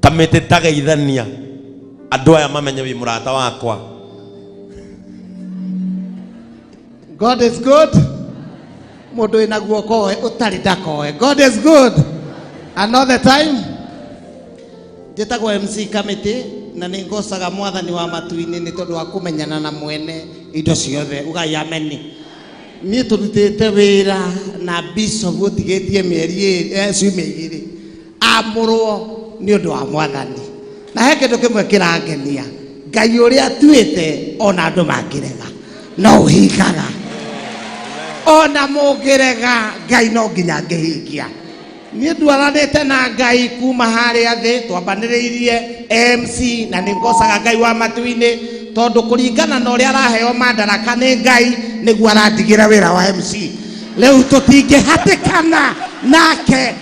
kamĩtĩ ta geithania andũ aya mamenye wĩ mũrata wakwa God is good. Mũndũ wĩna guoko oe ũtarĩ ndakoe. God is good. And all the time. Njĩtagwo MC Kamĩtĩ na nĩ ngocaga mwathani wa matu-inĩ nĩ tondũ wa kũmenyana na mwene indo ciothe. Ugai ameni. Niĩ tũrutĩte wĩra na Bishop ũtigĩtie mĩeri ĩrĩ- eh, ciumia igĩrĩ. amũrwo nĩ ũndũ wa mwathani na he kĩndũ kĩmwe kĩrangenia ngai ũrĩa atuĩte ona andũ mangĩrega no ũhingaga ona mũngĩrega ngai no nginya ngĩhingia niĩ ndwaranĩte na ngai kuma harĩa thĩ twambanĩrĩirie mc na nĩ ngocaga ngai wa matu-inĩ tondũ kũringana na ũrĩa araheo mandaraka nĩ ngai nĩguo arandigĩra wĩra wa mc rĩu tũtingĩhatĩkana nake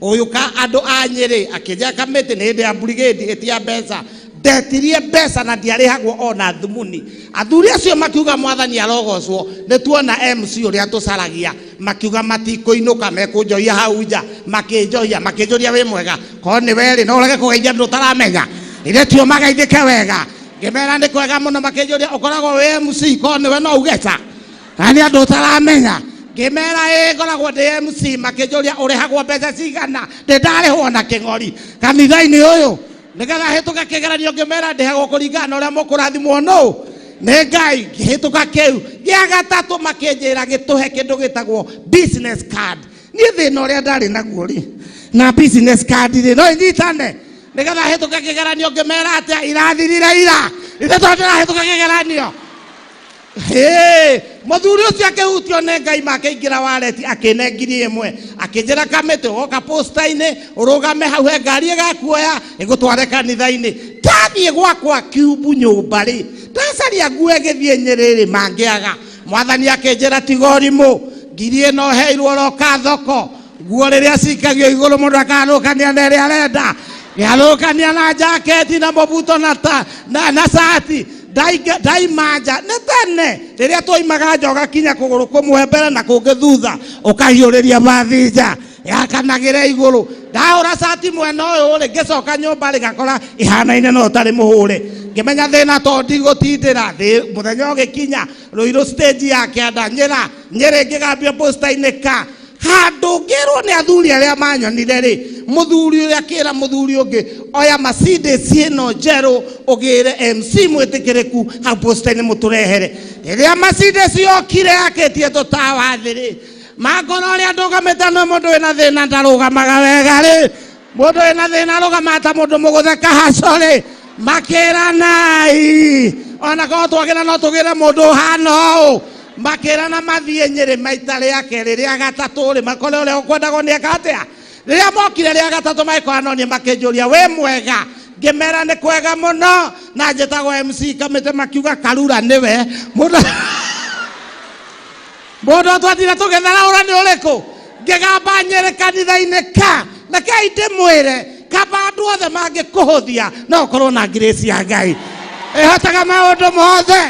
Ũyũ ka andũ a Nyĩrĩ akĩnja kamĩtĩ nĩ hĩndĩ ya mburigĩndi ĩtia mbeca ndetirie mbeca na ndiarĩhagwo ona thumuni. Athuri acio makiuga mwathani arogocwo nĩ tuona MC ũrĩa tũcaragia. Makiuga matikũinũka mekũnjohia hau nja. Makĩnjohia makĩnjũria wĩ mwega? Korwo nĩ we rĩ no ũrege kũgeithia andũ ũtaramenya? Ithe tio mageithĩke wega? Ngĩmera nĩ kwega mũno makĩnjũria ũkoragwo wĩ MC? Korwo nĩ we no uge ca. kana nĩ andũ ũtaramenya ngĩmera ĩ ngoragwo ndĩ mc makĩnjũria ũrĩhagwo mbeca cigana ndĩ ndarĩhwo na kĩng'ori kanitha-inĩ ũyũ nĩgetha hĩtũka kĩgeranio ngĩmera ndĩhagwo kũringana na ũrĩa mũkũrathimwo nũ nĩ ngai ngĩhĩtũka kĩu gĩa gatatũ makĩnjĩra gĩtũhe kĩndũ gĩtagwo business card niĩ thĩna ũrĩa ndarĩ naguo rĩ na business card rĩ no inyitane nĩgetha hĩtũka kĩgeranio ngĩmera atĩa irathirire ira ithe tondũ ndĩrahĩtũka kĩgeranio Hĩ! Mũthuri ũcio akĩhutio nĩ Ngai ma akĩingĩra wareti akĩne ngiri ĩmwe akĩnjĩra kamĩtĩ woka posta-inĩ ũrũgame hau he ngari ĩgakuoya ĩgũtware kanitha-inĩ ndathiĩ gwakwa kiumbu nyũmba rĩ ndacaria nguo ĩgĩthiĩ nyĩrĩ rĩ mangĩaga mwathani akĩnjĩra tiga ũrimũ ngiri ĩno heirwo roka thoko nguo rĩrĩa cikagio igũrũ mũndũ akarũkania na ĩrĩa arenda nĩarũkania na jaketi na mũbuto na ta na, na cati Ndaiga- ndaima nja nĩ tene rĩrĩa twoimaga nja ũgakinya kũgũrũ kũmwe mbere na kũngĩ thutha ũkahiũrĩria bathi nja yakanagĩra igũrũ ndahũra cati mwena ũyũ rĩ ngĩcoka nyũmba rĩ ngakora ihanaine no ũtarĩ mũhũre ngĩmenya thĩna to ndigũtindĩra thĩ mũthenya ũgĩkinya rũirũ stage ya kĩanda nyĩra nyĩrĩ ngĩgambio posta-inĩ ka handũ ngĩrwo nĩ athuri arĩa manyonire rĩ mũthuri ũrĩa akĩra mũthuri ũngĩ oya Mercedes ĩno njerũ ũgĩre MC mwĩtĩkĩrĩku hau posta-inĩ mũtũrehere rĩrĩa Mercedes yokire yakĩtie tũtawa thĩ rĩ mangoro ũrĩa ndũgamĩte nĩ mũndũ wĩna thĩna ndarũgamaga wega rĩ Mũndũ wĩ na thĩna arũgama ta mũndũ mũgũthe kahacorĩ makĩranai ona korwo twagĩra no tũgĩre mũndũ ũhana ũũ makĩrana mathiĩ nyĩrĩ maita rĩa kerĩ rĩa gatatũ rĩ makore ũrĩa ũkwendagwo nĩ eka atĩa rĩrĩa mokire rĩa gatatũ magĩkora no niĩ makĩnjũria wĩ mwega ngĩmera nĩ kwega mũno na njĩtagwo mc kamĩtĩ makiuga karura nĩwe mũndũ Mũndũ ũyũ twatire tũgĩthara ũra nĩ ũrĩkũ ngĩgamba nyere kanitha-inĩ ka na kei ndĩmwĩre kamba andũ othe mangĩkũhũthia no ũkorwo na ngirĩci ya ngai ĩhotaga maũndũ mothe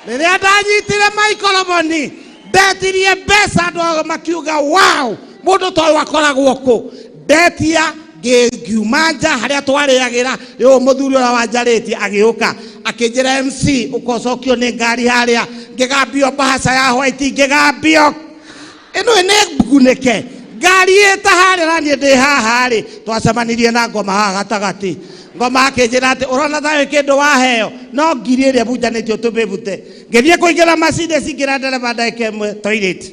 rĩrĩa ndanyitire maikoroboni ndetirie mbeca andũ ao makiuga wow mũndũ ta ũyũ akoragwo kũ ndetia ngiuma nja harĩa twarĩagĩra rĩu mũthuri ũrĩa wanjarĩtie agĩũka akĩnjĩra mc ũkocokio nĩ ngari harĩa ngĩgambio mbahaca ya hwaiti ngĩgambio ĩno nĩ ngunĩke ngari ĩta harĩa na niĩ ndĩ haha rĩ twacemanirie na ngoma haha gatagatĩ ngoma akĩnjĩra atĩ ũrona thayũ kĩndũ waheo no ngiri ĩrĩa bunjanĩtio tũmĩbute ngĩthiĩ kũingĩra macindĩ cingĩra ndereba ndagĩka ĩmwe toilet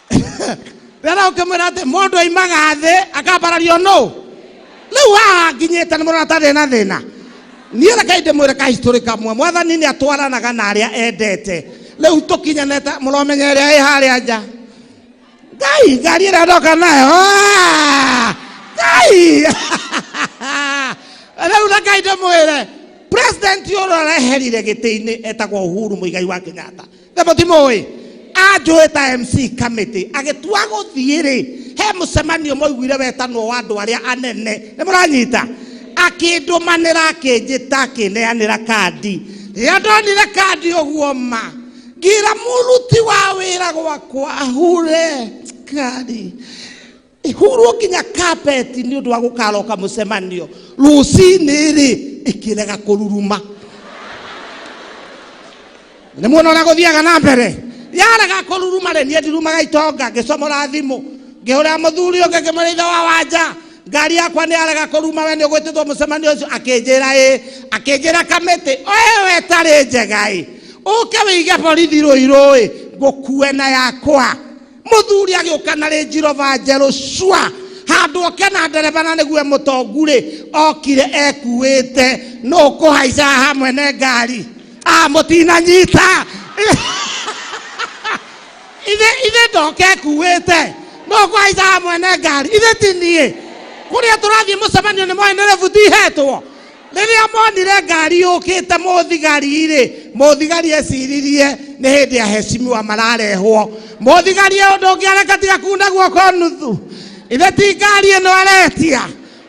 rĩrĩa ũkĩmwĩra atĩ mũndũ aimaga thĩ akambarario nũ rĩu haha nginyĩte nĩ mũrona tarĩ na thĩna niĩ rekai ndĩmwĩre kahistorĩ kamwe mwathani nĩ atwaranaga na arĩa endete rĩu tũkinyanĩte mũromenya ĩrĩa ĩ harĩa nja ngai ngari ĩrĩa ndoka nayo ah, ngai rĩu rekai ndĩmwĩre president ũrĩa ũreherire gĩtĩ-inĩ etagwo uhuru mũigai wa kenyatta na mũtimũĩ anjũĩ ta mc kamĩtĩ agĩtua gũthiĩ rĩ he mũcemanio mwaiguire wetanwo wa andũ arĩa anene nĩ mũranyita akĩndũmanĩra akĩnjĩta akĩneanĩra kandi rĩrĩa ndonire kandi ũguo ma ngira mũruti wa wĩra gwakwa ahure kari ihurwo nginya kapeti nĩ ũndũ wa gũkaroka mũcemanio rũcinĩ rĩ ĩkĩrega kũruruma nĩ muona ũrĩa gũthiaga na mbere yarega kũruruma rĩ niĩ ndirumaga itonga ngĩcomora thimũ ngĩhũra mũthuri ũngĩ ngĩmwĩra ithe wa wanja ngari yakwa nĩ yarega kũruma we nĩ ũgwĩtĩtwo mũcemanio ũcio akĩnjĩra ĩ akĩnjĩra kamĩtĩ oye we tarĩ njega ĩ ũke wĩige borithi rũirũ ĩ ngũkue na yakwa mũthuri agĩũka na rĩnji rova njerũ cua handũ oke na ndereba na nĩguo mũtongu rĩ okire ekuĩte nũ kũhaica haha mwene ngari a mũtinanyita ithe ithe ndoke ekuĩte nũ kũhaica haha mwene ngari ithe ti niĩ kũrĩa tũrathiĩ mũcemanio nĩ moĩ nĩ rebuti ihetwo rĩrĩa monire ngari yũkĩte mũthigari-rĩ mũthigari eciririe nĩ hĩndĩ ya hecimiwa mararehwo mũthigari e ũndũ ũngĩ areka tiga kuna guoko nuthu ithe ti ngari ĩno aretia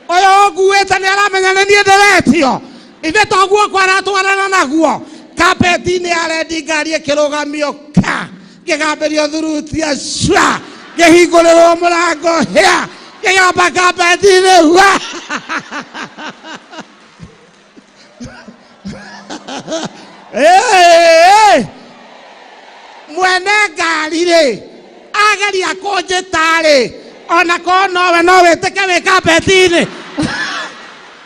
ũyũ ũkuĩte nĩ aramenya nĩ niĩ ndĩretio ithe to guoko aratwarana naguo kapeti-inĩ ya rendi ngari ĩkĩrũgamio ka ngĩgamberio thurutia cua ngĩhingũrĩrwo mũrango hĩa ngĩgamba kambetinĩ hua Hey! mwene ngari rĩ ageria kũnjĩta rĩ ona korwo nowe no wĩtĩke wĩ kambetinĩ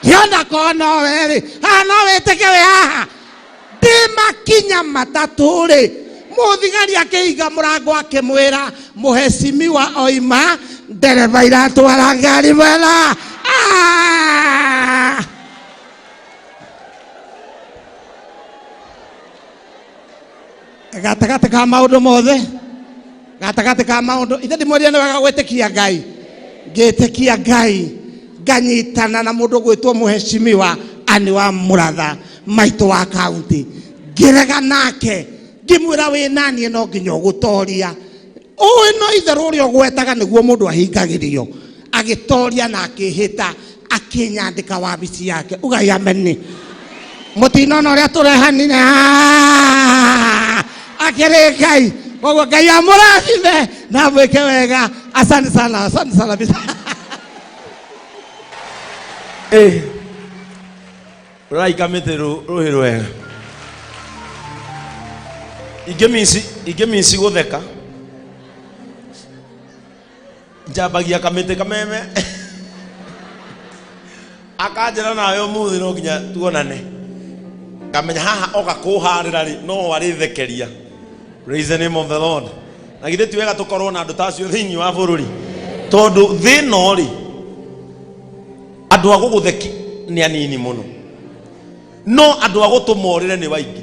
hiona korwo nowe rĩ haha no wĩtĩke wĩ haha ndĩmakinya matatũ-rĩ mũthigari akĩhinga mũrango akĩmwĩra mũhecimiwa oima ndereba iratwara ngari wera Ah! gatagatĩ ka maũndũ mothe gatagatĩ ka maũndũ ithe ndĩmwĩrire nĩ wega gwĩtĩkia ngai ngĩtĩkia ngai nganyitana na mũndũ gwĩtwo mũheshimiwa anĩ wa mũratha maitũ wa kaunti ngĩrega nake ngĩmwĩra wĩ naniĩ no nginya ũgũtoria ũĩ no itherũ ũrĩa ũgwetaga nĩguo mũndũ ahingagĩrio agĩtoria na akĩhĩta akĩnyandĩka wabici yake ugai ameni mũtinona ũrĩa tũrehanire Ah! akĩrĩ ngai koguo ngai amũrathime na mwĩke wega asante sana asante sana bisa rorai kamĩtĩ rũ- rũhĩ rwega ingĩ minci ingĩ minci gũtheka njambagia kamĩtĩ kameme akanjĩra nawe ũmũthĩ no nginya tuonane ngamenya haha oka kũharĩra rĩ no arĩthekeria praise the name of the lord na githĩ ti wega tũkorwo na andũ ta acio thĩinĩ wa bũrũri tondũ thĩna rĩ andũ a gũgũtheki nĩ anini mũno no andũ a gũtũmorĩre nĩ waingĩ